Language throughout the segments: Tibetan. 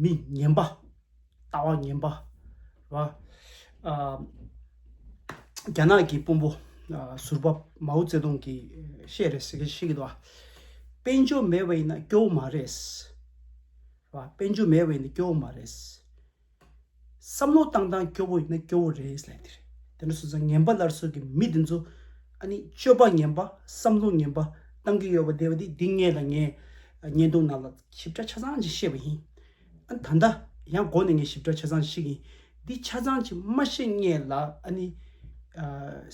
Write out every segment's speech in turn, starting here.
མི་ངན་པ། ལྟ་བ་ངན་པ། རྒྱ་ནག་གི་དཔོན་པོ་ཟུར་པ་མའོ་ཙེ་ཏུང་གིས་བཤད་རེད་ཟེར་མཁན་ཞིག་གིས། དཔལ་འབྱོར་མེད་པ་ཡིན་ན་སྐྱོ་བོ་མ་རེད། དཔལ་འབྱོར་མེད་པ་ཡིན་ན་སྐྱོ་བོ་མ་རེད། བསམ་བློ་བཏང་བཏང་སྐྱོ་བོ་ཡིན་ན་སྐྱོ་བོ་རེད་ཟེར་ལེ་དེ་རེད་དེ་འདྲ་སོང་ཙང་ངན་པ་ལར་སོགས་ཀྱི་མི་དེ་ཚོ་ཨ་ནི་སྤྱོད་པ་ངན་པ་བསམ་བློ་ངན་པ་བཏང་གི་ཡོད་པ་དེ་བ་དེ་དེ་ངས་ལ་ངའི་བརྙན་ཐུང་ནང་ལ་ཞིབ་ཕྲ་ཆ་ཚང་ཅིག་བཤད་པ་ཡིན་ཨ་ནི་ད་ལྟ་ཡང་སྒོ་ནས་ངས་ཞིབ་ཕྲ་ཆ་ཚང་ཞིག་ཡིན་འདི་ཆ་ཚང་ཅིག་མ་བཤད་ངས་ལ་ཨ་ནི།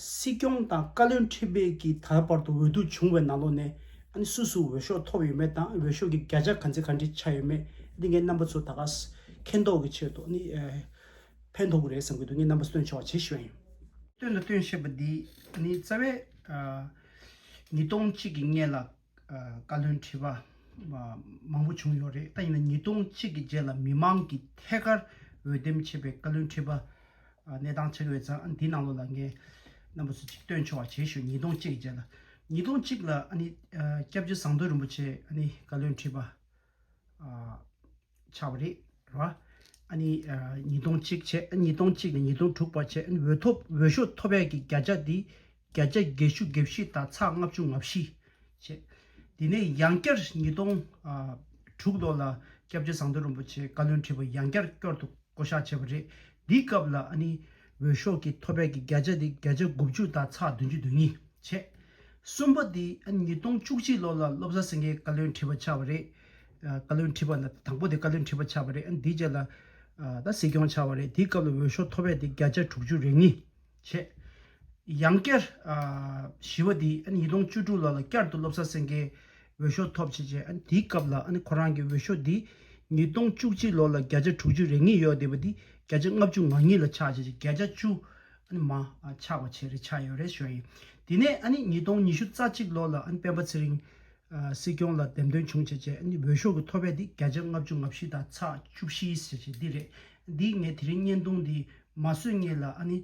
སྲིད་སྐྱོང་དང་བཀའ་བློན་ཁྲི་པའི་ཀྱི་ད་བར་དུ་འོས་བསྡུ་བྱུང་བའི་ནང་ལོགས་ནས་ཨ་ནི་སུ་སུ་འོས་ཤོག་ཐོབ་ཡོད་མེད་དང་འོས་ཤོག་གི་བརྒྱ་ཆ་ག་ཚད་ག་འདྲི་ཆགས་ཡོད་མེད་འདི་ངའི་རྣམ་པ་ཚོ་ད་ག་ཟེ་མཁྱེན་རྟོགས་ཀྱི་ཕྱིར་དུ་ནི། ཕན་ཐོགས་ཀྱི་རེད་བསམ་གྱི་འདུག་ངས་རྣམ་པ་སྟོན་ཆོག་ཇི་བཞིན་པ། སྟོན་དང་སྟོན་ཞེས་པ་འདི་ནི་རྩ་བའི། ཉིས་སྟོང་གཅིག་གི་སྔས་ལ། བཀའ་བློན་ཁྲི་པ། མང་པོ་བྱུང་ཡོད་རེད་ད་ཡིན་ན་ཉིས་སྟོང་གཅིག་གི་རྗེས་ལ་མི་མང་གིས་ཐད་ཀར་འོས་འདེམས་བྱས་པའི་བཀའ་བློན་ཁྲི་པ། གནས་སྟངས་ཆགས་ཀྱི་ཡོད་ཙང་འདི་ནང་ལོགས་ལ་ངས། རྣམ་པ་སུ་གཅིག་སྟོན་ཆོག་ཇི་བཞིན་ཉིས་སྟོང་གཅིག་གི་རྗེས་ལ། ཉིས་སྟོང་གཅིག་ལ་ནི། སྐྱབས་རྗེ་ཟངས་མདོས་རིན་པོ་ཆེ་ནི་བཀའ་བློན་ཁྲི་པ། བྱ་བ་རེད་ར། ཨ་ནི་ཉིས་སྟོང་གཅིག་བྱས་ཨ་ཉིས་སྟོང་གཅིག་ནས་ཉིས་སྟོང་དྲུག་བར་བྱས་ཨ་ནི་འོས་ཐོབ་འོས་ཤོག་ཐོབ་ཡས་ཀྱི་བརྒྱ་ཆ་དེ་བརྒྱ་ཆ་བརྒྱད་ཅུ་བརྒྱད་བཞི་དང་ཚགས་ལྔ་བཅུ་ང་བཞི་བྱས། དེ་ནས་ཡང་བསྐྱར་ཉིས་སྟོང་དྲུག་ལོ་ལ་སྐྱབས་རྗེ་ཟངས་མདོས་རིན་པོ་ཆེ་བཀའ་བློན་ཁྲི་པ་ཡང་བསྐྱར་སྐྱོར་དུ་བསྐོ་བཞག་བྱས་པ་རེད། འདིའི་སྐབས་ལ་ཨ་ནི། འོས་ཤོག་གི་ཐོ་ཕད་ཀྱི་བརྒྱ་ཆ་དེ་བརྒྱ་ཆ་དགུ་བཅུ་དང་ཚགས་བདུན་ཅུ་དོན་གཉིས་བྱས། གསུམ་པ་དེ་ཉིས་སྟོང་བཅུ་གཅིག་ལོ་ལ་བློ་བཟང་སེང་གེའི་བཀའ་བློན་ཁྲི་པ་ཆགས་པ་རེད། བཀའ་བློན་ཁྲི་པ་ལ་དང་པོ་དེ་བཀའ་བློན་ཁྲི་པ་ཆགས་པ་རེད། དེའི་རྗེས་ལ་ད་སྲིད་སྐྱོང་ཆགས་པ་རེད། དེའི་སྐབས་ལ་འོས་ཤོག་ཐོ་ཕད་དེ་བརྒྱ་ཆ་དྲུག་ཅུ་རེ་གཉིས་བྱས། ཡང་བསྐྱར་བཞི་བ་དེ་ཉིས་སྟོང་བཅུ་དྲུག་ལོ་ལ་བསྐྱར་དུ་བློ་བཟང་སེང་གེའི། འོས་ཤོག་ཐོབ་བྱས་རྗེས་དེའི་སྐབས་ལ་ཁོ་རང་གི་འོས་ཤོག་དེ་ཉིས་སྟོང་བཅུ་གཅིག་ལོ་ལ་བརྒྱ་ཆ་དྲུག་ཅུ་རེ་ངེས་ཡོད་བསྡད་པ་དེ་བརྒྱ་ཆ་ལྔ་བཅུ་ང་གཉིས་ལ་ཆག་བྱས་རྗེས་བརྒྱ་ཆ་བཅུ་མ་ཆག་བ་བྱས་རེ་ཆག་ཡོད་རེ་ཞོར་ཡིན། དེ་ནས་ཉིས་སྟོང་ཉི་ཤུ་རྩ་གཅིག་ལོ་ལ་སྤེན་པ་ཚེ་རིང་སྲིད་སྐྱོང་ལ་འདེམས་ཐོན་བྱུང་བྱས་རྗེས་འོས་ཤོག་གི་མཐོ་བས་དེ་བརྒྱ་ཆ་ལྔ་བཅུ་ང་བཞི་དང་ཚ་བཅུ་བཞི་བྱས་རྗེས་འདི་རེད་འདི་ངས་དེ་རིང་བརྙན་ཐུང་འདི་མ་བཟོས་ངེས་ལ།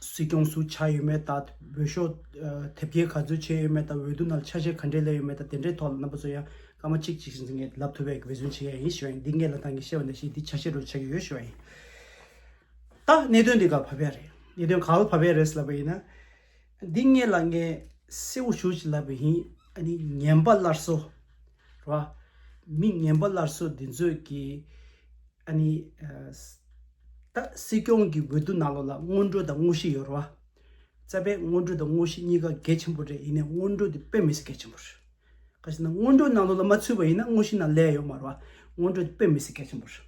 སྲིད་སྐྱོང་སུ་ཆགས་ཡོད་མེད་དང་འོས་ཤོག་དེབ་སྐྱེལ་ག་ཚོད་བྱས་ཡོད་མེད་དང་འོས་བསྡུ་ནང་ཆ་ཤས་ག་འདྲས་ལས་ཡོད་མེད་དང་དེ་འདྲའི་ཐོག་ལ་རྣམ་པ་ཚོ་ཡང་སྐར་མ་གཅིག་གཅིག་བཞིན་ངས་ལབ་ཐུབ་པའི་འབད་བརྩོན་བྱེད་ཡ་ཡིན་ཞེས་པ་ཡིན་འདི་ངས་ལ་དྭགས་ཀྱི་ཤེས་པ་འདྲ་ཞིག་འདི་ཆ་ཤས་རུ་ཆགས་ཀྱི་ཡོད་ཞེས་པ་ཡིན། ད་གནད་དོན་འདི་ག་བྷ་བྷའི་རེད་གནད་དོན་ག་ལ་བྷ་བྷའི་རེད་ལབ་པ་ཡིན་ན། འདི་ངས་ལ་ངས་གསལ་བོ་ཞུ་ཞིག་ལབ་པ་ཡིན་ཨ་ནི་ངན་པ་སླར་གསོ། རེད་བ། མི་ངན་པ་སླར་གསོ་འདི་ཚོས་ཀྱིས། ཨ་ནི། ད། སྲིད་སྐྱོང་གི་འོས་བསྡུ་གནང་ལོ་ལ་སྔོན་འགྲོ་དང་དངོས་གཞི་ཡོད་རོ། རྩ་བའི་སྔོན་འགྲོ་དང་དངོས་གཞི་གཉིས་ཀ་གལ་ཆེན་པོ་རེད་ཡིན་ནས་སྔོན་འགྲོ་དེ་དཔེ་མི་སྲིད་གལ་ཆེན་པོ་རེད། ག་ཞིག་ན་སྔོན་འགྲོ་གནང་ལོ་ལ་མ་ཚུད་པ་ཡིན་ན་དངོས་གཞི་ན་ལས་ཡོད་མ་རོ། སྔོན་འགྲོ་དེ་དཔེ་མི་སྲིད་གལ་ཆེན་པོ་རེད།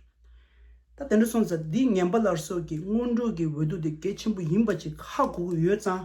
ད་དེ་འདྲ་སོང་ཙང་འདི་ངན་པ་ལར་སོགས་ཀྱི་སྔོན་འགྲོ་གི་འོས་བསྡུ་དེ་གལ་ཆེན་པོ་ཡིན་པ་ཅིག་ཧ་གོ་གི་ཡོད་ཙང།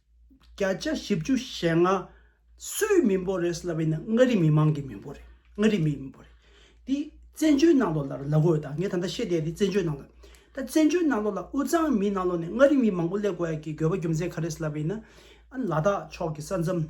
བརྒྱ་ཆ་བཞི་བཅུ་ཞེ་ལྔ། སུའི་མི་འབོར་རེད་ཟེར་བ་ཡིན་ན་མངའ་རིས་མི་མང་གི་མི་འབོར་རེད། མངའ་རིས་མིའི་མི་འབོར་རེད། དེ་བཙན་བྱོལ་ནང་ལོགས་ལ་ལ་གོ་ད་ངས་ད་ལྟ་བཤད་བསྡད་དེ་བཙན་བྱོལ་ནང་ལོགས་རེད། ད་བཙན་བྱོལ་ནང་ལོགས་ལ་དབུས་གཙང་མིའི་ནང་ལོགས་ནས་མངའ་རིས་མི་མང་པོ་སླེབས་དགོས་ཡ་གི་དགོས་པ་རྒྱུ་མཚན་ག་རེད་ཟེར་བ་ཡིན་ན། ཨ་ལ་དྭགས་ཕྱོགས་ཀྱི་ས་མཚམས།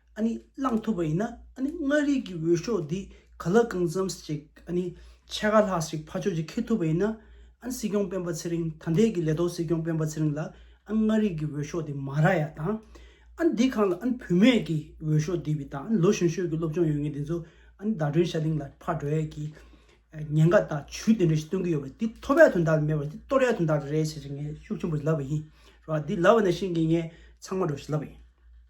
ཨ་ནི་བླངས་ཐུབ་པ་ཡིན་ན་ཨ་ནི་མངའ་རིས་ཀྱི་འོས་ཤོག་འདི་ག་ལ་གང་འཚམས་ཤིག་ཨ་ནི་ཕྱེད་ཀ་ལྷག་ཞིག་ཕ་ཕྱོགས་ཀྱིས་འཁེལ་ཐུབ་པ་ཡིན་ན་ཨ་ནི་སྲིད་སྐྱོང་སྤེན་པ་ཚེ་རིང་ད་འདས་ཀྱི་ལས་ཐོག་སྲིད་སྐྱོང་སྤེན་པ་ཚེ་རིང་ལ་ཨ་ནི་མངའ་རིས་ཀྱི་འོས་ཤོག་འདི་མ་རག་ཡ་དང་ཨ་ནི་འདི་གང་ལ་ཨ་ནི་བུད་མེད་ཀྱི་འོས་ཤོག་འདི་བི་དང་ཨ་ནི་ལོ་གཞོན་ཤོས་ཀྱི་སློབ་སྦྱོང་ཡོད་མཁན་དེ་ཚོ་ཨ་ནི་ཟླ་སྒྲོན་ཤ་ལིང་ལ་ཕར་འགྲོ་ཡས་ཀྱི་ཉེན་ཁ་དང་བྱུས་དེ་འདྲ་ཞིག་སྟོན་གྱི་ཡོད་པ་འདི་ཐོབ་ཡ་དོན་དག་ལ་མེད་པར་འདི་གཏོར་ཡ་དོན་དག་རེད་ཞེས་ངས་ཤུགས་ཆེན་པོ་ཞིག་ལབ་པ་ཡིན་རོ་འདི་ལབ་པ་ནས་བཞིན་གྱི་ངས་ཚང་མ་འགྲོ་ཞིག་ལབ་པ་ཡིན།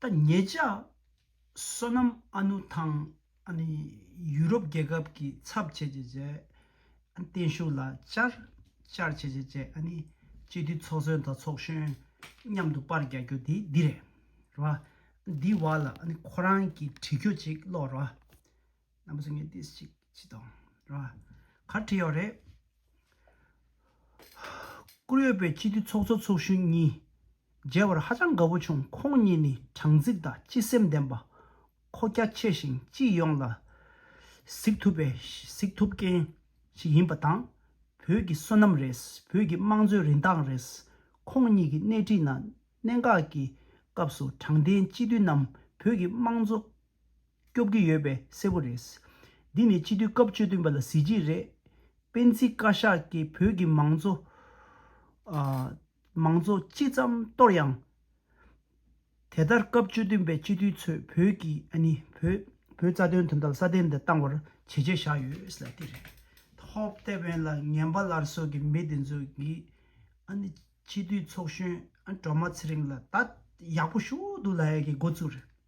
ད་ངེད་ཅག་བསོད་ནམས་ཨ་ནུ་ཐང་ཡུ་རོབ་རྒྱལ་ཁབ་ཀྱི་ཚབ་བྱེད་བྱེད་བྱེད་བརྟན་བཞུགས་ལ་བཅར་བཅར་བྱེད་བྱེད་བྱེད་སྤྱི་འཐུས་ཚོགས་གཙོའི་མདའ་ཚོགས་གཞོན་མཉམ་དུ་པར་རྒྱག་རྒྱུ་དེ་འདི་རེད། འདི་བར་ལ་ཁོ་རང་གི་བྲིས་འཁྱོད་ཅིག་ཀློག་རོགས། རྣམ་པ་ཚོ་ངས་ཏེས་ཅིག་ཅིག་དང་ར་གར་བྲིས་ཡོད་རེད། བཀུར་འོས་པའི་སྤྱི་འཐུས་ཚོགས་གཙོ་ཚོགས་གཞོན་གཉིས་མཇལ་བར་ཧ་ཅང་དགའ་བོ་བྱུང་ཁོང་གཉིས་ནི་དྲང་ཚིག་དང་སྤྱི་སེམས་ལྡན་པ། ཁོ་རྒྱ་ཆེ་ཞིང་སྤྱི་ཡོངས་ལ་གཟིགས་ཐུབ་པའི་གཟིགས་ཐུབ་མཁན་ཞིག་ཡིན་པ་དང། བོད་ཀྱི་བསོད་ནམས་རེད་བོད་ཀྱི་དམངས་གཙོའི་རིན་ཐང་རེད། ཁོང་གཉིས་ཀྱི་སྣེ་ཁྲིད་ནང་གནད་འགག་གི་སྐབས་སུ་དྲང་བདེན་སྤྱི་འཐུས་རྣམས་བོད་ཀྱི་དམངས་གཙོ། སྐྱོབ་ཀྱི་ཡོད་པས་གསལ་བོ་རེད། འདི་ནི་སྤྱི་འཐུས་སྐབས་བཅུ་བདུན་པ་ལ་གཟི་བརྗིད་རེད། སྤེན་ཚེ་བཀའ་ཤག་གིས་བོད་ཀྱི་མང་གཙོ། མང་གཙོ་ཅི་ཙམ་གཏོར་ཡང། དེ་ལྟར་སྐབས་བཅུ་བདུན་པའི་སྤྱི་འཐུས་ཚོས་བོད་ཀྱི་ཨ་ནི་བོད། བོད་རྩ་དོན་དོན་དག་སྲ་བརྟན་དུ་བཏང་བར་བྱས་རྗེས་བཞག་ཡོད་ལ་དེ་རེད། ཐོབ་དེ་བས་ལ་ངན་པ་ལར་གསོད་ཀྱི་མི་དེ་ཚོ་གིས་ཨ་ནི་སྤྱི་འཐུས་ཚོགས་གཞོན་ཨ་ནི་སྒྲོལ་མ་ཚེ་རིང་ལ་ད་ཡག་པོ་ཞུ་འདུག་ལ་ཡ་གི་འགོ་བཙུགས་རེད།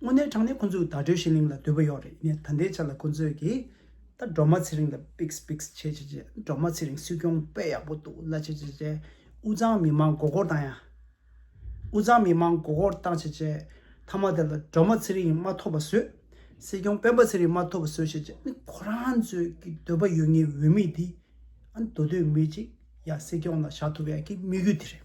དངོས་གནས་དྲང་གནས་ཁོ་ཚོས་བརྡ་སྤྲོད་བྱེད་གླིང་ལ་དོད་པོ་ཡོད་རེད་ངས་ད་ལྟའི་ཆར་ལ་ཁོ་ཚོས་ཀྱི་ད་སྒྲོལ་མ་ཚེ་རིང་ལ་པིགས་པིགས་བྱས་བྱས་བྱས་སྒྲོལ་མ་ཚེ་རིང་སྲིད་སྐྱོང་དཔེ་ཡག་པོ་འདུག་ལ་བྱས་བྱས་བྱས་དབུས་གཙང་མི་མང་མགོ་སྐོར་བཏང་ཡ། དབུས་གཙང་མི་མང་མགོ་སྐོར་བཏང་བྱས་བྱས་མཐའ་མ་དེ་ལ་སྒྲོལ་མ་ཚེ་རིང་མ་ཐོབ་པ་བཟོས། སྲིད་སྐྱོང་སྤེན་པ་ཚེ་རིང་མ་ཐོབ་པ་བཟོས་བྱས་བྱས་ནི་ཁོ་རང་ཚོས་ཀྱི་འདོད་པ་ཡོད་ངེས་འོས་མི་དེ་འདོད་འདོད་མི་ཅིག་ཡ་སྲིད་སྐྱོང་ལ་བཞག་ཐུབ་ཡ་ཀྱི་དམིགས་ཡུལ་དེ་རེད།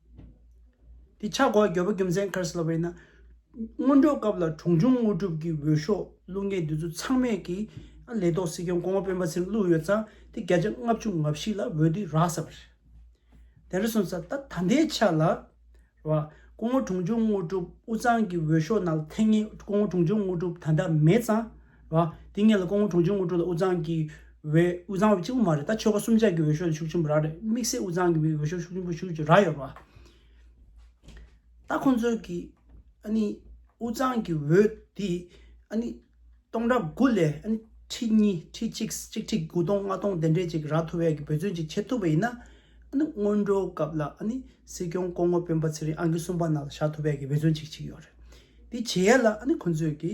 འདི་ཆགས་འགོ་རྒྱལ་པོ་རྒྱུ་མཚན་ཁར་སི་ལ་བས་ན། སྔོན་འགྲོའི་སྐབས་ལ་གྲོང་ཆུང་དངོས་གྲུབ་ཀྱི་འོས་ཤོག་བླུགས་མཁན་དེ་ཚོ་ཚང་མས་ཀྱི་ལས་ཐོག་སྲིད་སྐྱོང་གོང་མ་སྤེན་པ་ཚེ་རིང་བླུགས་ཡོད་ཙང་དེ་བརྒྱ་ཆ་ལྔ་བཅུ་ང་བཞི་ལ་འོས་དེ་རག་ས་པ་རེད། དེ་རེ་སོང་ཙང་ད་ད་ལྟའི་ཆ་ལ། རེད་པ། སྐུ་ངོ་གྲོང་ཆུང་དངོས་གྲུབ་དབུ་གཙང་གི་འོས་ཤོག་ནང་ལ་ཐེངས་ངེས་སྐུ་ངོ་གྲོང་ཆུང་དངོས་གྲུབ་ད་ལྟ་མེད་ཙང། བ། དེ་ངེད་ལ་ཀོང་བོ་གྲོང་ཁྱེར་དངུལ་སྤྲོ་ལ་དབུས་གཙང་གི་འོས་དབུས་གཙང་བ་གཅིག་པུ་མ་རེད་ད་ཆོལ་ཁ་གསུམ་ཆ་གི་འོས་ཤོག་ལ་ཤུགས་ཆེན་པོ་རག་རེད་དམིགས་བསལ་དབུས་གཙང་གི་མིའི་འོས་ཤོག་ཤུགས་ཆེན་པོ་ཞུ་རྒྱུ་རག་ཡོད་པ། ད་ཁོང་ཚོས་ཀྱི་ཨ་ནི་དབུས་གཙང་གི་འོས་དེ་ཨ་ནི་སྟོང་ཕྲག་དགུ་ལས་ཨ་ནི་ཁྲི་གཉིས་ཁྲི་གཅིག་གཅིག་ཁྲི་དགུ་སྟོང་ལྔ་སྟོང་དེ་འདྲས་ཅིག་རག་ཐུབ་བས་ཀྱི་འབོད་བརྩོན་ཅིག་བྱེད་ཐུབ་པ་ཡིན་ན་ཨ་ནི་སྔོན་འགྲོའི་སྐབས་ལ་ཨ་ནི་སྲིད་སྐྱོང་ཀོང་བོ་སྤེན་པ་ཚེ་རིང་ཨང་ཀི་གསུམ་པ་ནང་ལ་བཞག་ཐུབ་བས་ཀྱི་འབོད་བརྩོན་ཅིག་བྱེད་ཀྱི་ཡོད་རེད་དེ་བྱེད་ཡ་ལ་ཨ་ནི་ཁོང་ཚོས་ཀྱི།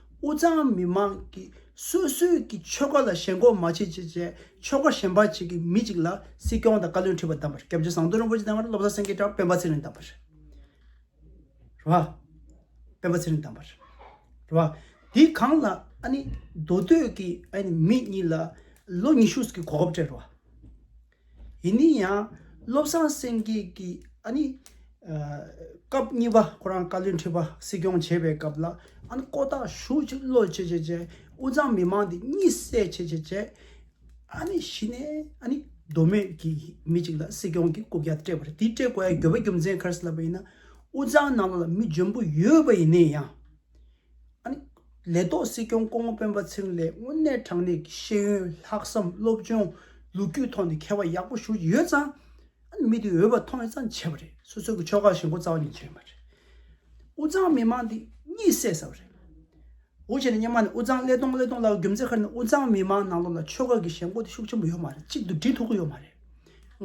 དབུས་གཙང་མི་མང་གི་སོ་སོའི་གི་ཆོལ་ཁ་ལ་ཞེན་ཁོག་མ་བྱེད་ཅེས་བྱས་ཆོལ་ཁ་ཞེན་པ་བྱེད་ཀྱི་མི་ཅིག་ལ་སྲིད་སྐྱོང་དང་བཀའ་བློན་ཁྲི་པ་བདམས་པར་སྐྱབས་རྗེ་ཟངས་མདོག་རིན་པོ་ཆེ་བདམས་པར་བློ་བཟང་སེང་གེ་དང་སྤེན་པ་ཚེ་རིང་བདམས་པར་རེད་བ། སྤེན་པ་ཚེ་རིང་བདམས་པར་རེད་བ། དེ་གང་ལ་ཨ་ནི་མདོ་སྟོད་ཀྱི་ཨ་ནི་མི་གཉིས་ལ་ལོ་ཉི་ཤུ་གི་གོ་སྐབས་སྤྲད་རེད་བ། ཡིན་ནི་ཡང། བློ་བཟང་སེང་གེ་ཀྱིས་ཨ་ནི། སྐབས་གཉིས་པ་ཁོ་རང་བཀའ་བློན་ཁྲི་པ་སྲིད་སྐྱོང་བྱས་པའི་སྐབས་ལ་ཨ་ནི་ཀོ་ཐག་ཞུགས་ཆེད་བློ་བྱེད་བྱེད་བྱེད་དབུས་གཙང་མི་མང་འདི་གཉིད་སད་བྱེད་བྱེད་བྱེད། ཨ་ནི་གཞི་ནས་ཨ་ནི་མདོ་སྨད་ཀྱི་མི་གཅིག་ལ་སྲིད་སྐྱོང་གི་རྐུབ་བཀྱག་སྤྲད་པ་རེད་དེ་སྤྲད་དགོས་ཡ་རྒྱོབ་པ་རྒྱུ་མཚན་ག་རེ་ལབ་པ་ཡིན་ན་དབུས་གཙང་ནང་ལ་མི་འཇོན་པོ་ཡོད་པ་ཡིན་ནི་ཡང། ལས་ཐོག་སྲིད་སྐྱོང་སྐུ་ངོ་སྤེན་པ་ཚེ་རིང་ལས་དངོས་གནས་དྲང་གནས་ཀྱི་ཤེས་ཡོན་ལྷག་བསམ་སློབ་སྦྱོང་ལོ་རྒྱུས་ཐོག་ནས་མཁས་པ་ཡག་པོ་ཞུ་རྒྱུ་ཡོད་ཙང། མི་དེ་འོས་པ་མཐོང་བས་ཙང་བྱས་པ་རེད་སོ་སོའི་གི་ཕྱོགས་ཁག་ཞེན་གོ་རྩ་བ་ནས་ཆོད་མ་རེད། དབུ་གཙང་མི་མང་དེ་གཉིད་སད་ས་བ་རེད། འོ་བྱས་ནས་སྙེ་མ་ནས་དབུ་གཙང་ཀླད་སྟོང་ཀླད་སྟོང་ལབ་རྒྱུ་མཛད་ཁར་ནས་དབུ་གཙང་མི་མང་ནང་ལོག་ལ་ཕྱོགས་ཁག་གི་ཞེན་གོ་དེ་ཤུགས་ཆེན་པོ་ཡོད་མ་རེད་གཅིག་ཏུ་འགྲིལ་ཐུབ་གི་ཡོད་མ་རེད།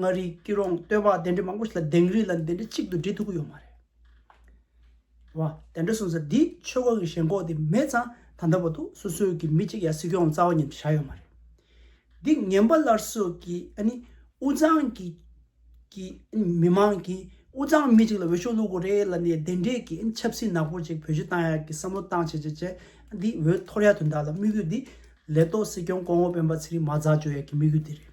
མངའ་རིས་སྐྱིད་རོང་སྟོད་པ་དེ་འདྲའི་མང་པོ་ཞིག་ལ་དེང་རིགས་ལ་འདི་འདྲའི་གཅིག་ཏུ་འགྲིལ་ཐུབ་གི་ཡོད་མ་རེད། བ། དེ་འདྲ་གསུངས་ཚེ་འདིས་ཆོལ་ཁ་གི་ཞེན་ཁོག་དེ་མེད་ཙང་ད་ལྟ་བར་དུ་སོ་སོའི་གི་མི་གཅིག་ཡང་སྲིད་སྐྱོང་རྩ་བ་ཉིད་དུ་བཞག་ཡོད་མ་རེད། འདི་ངན་པ་སླར་གསོ་གི་ཨ་ནི་དབུ་ལྗང་གི་གི་ཨ་ནི་མི་མང་གི་དབུ་ལྗང་མི་གཅིག་ལ་འོས་ཤོག་བླུག་དགོས་རེད་ལབ་ནས་དེ་འདྲས་གི་ཨ་ནི་ཆབ་སྲིད་ནག་པོ་གཅིག་བོད་གཞི་བཏང་ཡག་གི་བསམ་བློ་བཏང་བྱས་བྱས་བྱས་ཨ་འདི་འོས་འཐོར་ཡག་དུ་འདག་ལ་དམིགས་ཡུལ་འདི་ལས་གཏོགས་སྲིད་སྐྱོང་གོང་འོག་སྤེན་པ་ཚེ་རིང་མ་ཛག་བཅོས་ཡག་གི་དམིགས་ཡུལ་འདི་རེད།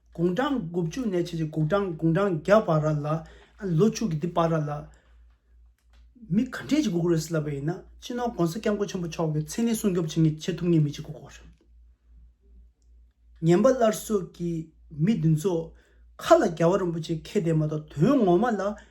དགུང་གྲངས་དགུ་བཅུ་ནས་ཕྱིན་ཅི་དགུ་གྲངས་དགུང་གྲངས་བརྒྱ་བར་ར་ལ། ལོ་ཕྱུགས་ཀྱི་འདི་བར་ར་ལ། མི་ག་འདྲེ་ཅིག་གུ་གུ་རུ་སི་ལ་བས་ཡིན་ན་སྤྱི་ནོར་གོང་ས་སྐྱབས་མགོན་ཆེན་པོ་མཆོག་གི་མཚན་ནི་སྲུང་སྐྱོབ་བྱེད་ངེས་བྱེད་ཐུབ་ངེས་མི་ཅིག་གུ་གུ་རུ། ངན་པ་སླར་གསོ་གི་མི་འདི་ཚོ། ཁ་ལ་རྒྱལ་བ་རིན་པོ་ཆེ་ཁས་ལྡན་མ་གཏོགས་དོན་ངོ་མ་ལ་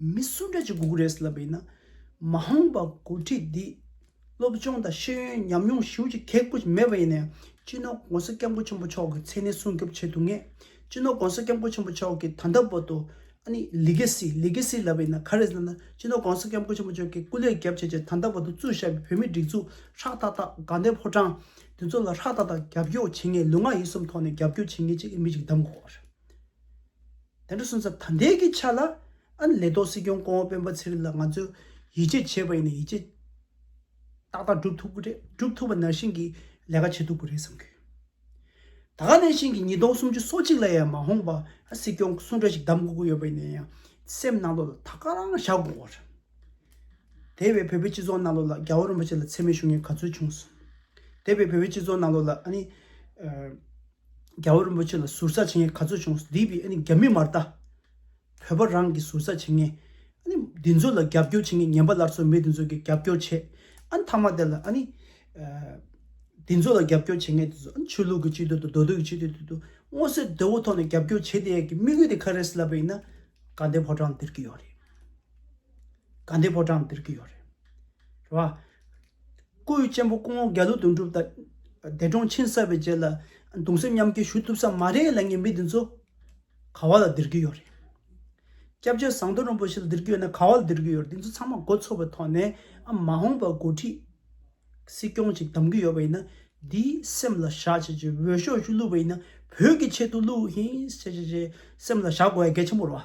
མི་སུ་འདྲ་ཅིག་སྒུག་རེས་ལབ་ཡིན་ན། མ་འོངས་པར་འགོ་ཁྲིད་འདིས་སློབ་སྦྱོང་དང་ཤེས་ཡོན་ཉམས་མྱོང་ཞིབ་ཅིང་གེགས་པོ་ཅིག་མེད་པ་ཡིན་ན་ཡང་སྤྱི་ནོར ྋགོང་ས ྋསྐྱབས་མགོན་ཆེན་པོ་མཆོག་གི་མཚན་གནས་སྲུང་སྐྱོབ་བྱེད་ཐུབ་ངེས། སྤྱི་ནོར ྋགོང་ས ྋསྐྱབས་མགོན་ཆེན་པོ་མཆོག་གི་ད་ལྟ་བར་དུ་ཨ་ནི Legacy Legacy ལབ་ཡིན་ན་ག་རེ་ཟེར་ན་སྤྱི་ནོར ྋགོང་ས ྋསྐྱབས་མགོན་ཆེན་པོ་མཆོག་གི་སྐུ་ལས་རྒྱབ་བྱས་རྗེས་ད་ལྟ་བར་དུ་བཙུགས་བཞག་པའི་བོད་མིའི་སྒྲིག་འཛུགས་ཧྲག་ཏག་ཏག་དགའ་ལྡན་ཕོ་བྲང་འདི་ཚོ་ལ་ཧྲག་ཏག་ཏག་རྒྱབ་སྐྱོར་བྱེད་ངེས་ལུས་ངག་ཡིད་གསུམ་ཐོག་ནས་རྒྱབ་སྐྱོར་བྱེད་ངེས་ཅེས་མི་ཅིག་གདམས་དགོས་པ་རེད། དེ་འདྲ་སོང་ཙང་ད་ལྟའི་གི་ཆ་ལ་ཨ་ལེ་ཏོ་སྲིད་སྐྱོང་ཀོང་བོ་སྤེན་པ་ཚེ་རིང་ལ་ང་ཚོས་ཡིད་ཆེས་བྱེད་པ་ཡིན་ན་ཡིད་ཆེས་ཏག་ཏག་བསྒྲུབ་ཐུབ་གི་རེད་བསྒྲུབ་ཐུབ་པ་ནང་བཞིན་གི་ལས་ཀ་བྱེད་ཐུབ་གི་རེད་བསམ་གི་ཡོད། ད་ག་ནས་བཞིན་གི་ཉིས་སྟོང་སུམ་ཅུ་སོ་གཅིག་ལ་ཡང་མ་འོངས་པ་ཨ་སྲིད་སྐྱོང་སུ་འདྲ་ཞིག་གདམ་དགོས་ཀི་ཡོད་པ་ཡིན་ན་ཡང་སེམས་ནང་ལོག་ལ་ད་ག་རང་བཞག་དགོས་གི་རེད། དེ་བས་བོད་པའི་སྤྱི་ཚོགས་ནང་ལོག་ལ་རྒྱ་བོ་རིན་པོ་ཆེ་ལ་འཚེ་མེད་ཞུ་མཁན་ག་ཚོད་བྱུང་སོང། དེ་བས་བོད་པའི་སྤྱི་ཚོགས་ནང་ལོག་ལ་ཨ་ནི། རྒྱལ་བ་རིན་པོ་ཆེ་ལ་ཟུར་ཟ་བྱེད་མཁན་ག་ཚོད་བྱུང་སྡིག་པའི་རྒྱ་མི་མ་རྟ། བོད་པ་རང་གི་ཟུར་ཟ་བྱེད་མཁན། འདི་ཚོ་ལ་རྒྱབ་སྐྱོར་བྱེད་མཁན་ངན་པ་སླར་གསོ་མི་འདི་ཚོ་གི་རྒྱབ་སྐྱོར་བྱེད་ཨ་མཐའ་མ་དེ་ལ་ཨ་ནི། འདི་ཚོ་ལ་རྒྱབ་སྐྱོར་བྱེད་མཁན་དེ་ཚོ་ཨ་ཆོས་ལུགས་ཀྱི་སྤྱི་དོན་དང་འདོད་དོད་ཀྱི་སྤྱི་དོན་དེ་དུ་སྔོ་སེར་དོད་བོ་ཐོག་ནས་རྒྱབ་སྐྱོར་བྱེད་དེ་ཡ་གི་དམིགས་ཡུལ་དེ་ག་རེད་ཟེར་ལབ་པ་ཡིན་ན། དགའ་ལྡན་ཕོ་བྲང་འདིར་གི་ཡོད་རེད། དགའ་ལྡན་ཕོ་བྲང་འདིར་གི་ཡོད་རེད། རེད་བ། སྐུ་ཡི་གཅེན་པོ་སྐུ་ངོ་རྒྱ་ལོ་དོན་གྲུབ་དང། འདས་གྲོངས་ཕྱིན་བསགས་པའི་རྗེས་ལ་གདུང་སེམས་མཉམ་སྐྱེ་ཞུ་ཐུབ་ས་མ་རེད་ལ་ངན་པའི་འདི་ཚོ། ག་བ་ལ་སྡིར་གྱི་ཡོད་རེད། སྐྱབས་རྗེ་ཟངས་མདོག་རིན་པོ་ཆེ་ལ་སྡིར་གྱི་ཡོད་ན་ག་བ་ལ་སྡིར་གྱི་ཡོད་རེད་འདི་ཚོ་ཚང་མ་མགོ་ཚོས་པའི་ཐོག་ནས་ཨ་མ་འོངས་པར་འགོ་ཁྲིད། སྲིད་སྐྱོང་ཅིག་གདམ་གྱི་ཡོད་པ་ཡིན་ན་དེའི་སེམས་ལ་བཞག་བྱས་རྗེས་འོས་ཤོག་ཤིག་བླུགས་པ་ཡིན་ན་བོད་ཀྱི་ཆེད་དུ་བླུགས་ཧིན་བྱས་བྱས་བྱས་སེམས་ལ་བཞག་དགོས་ཡ་གལ་ཆེན་པོ་རེད་བ།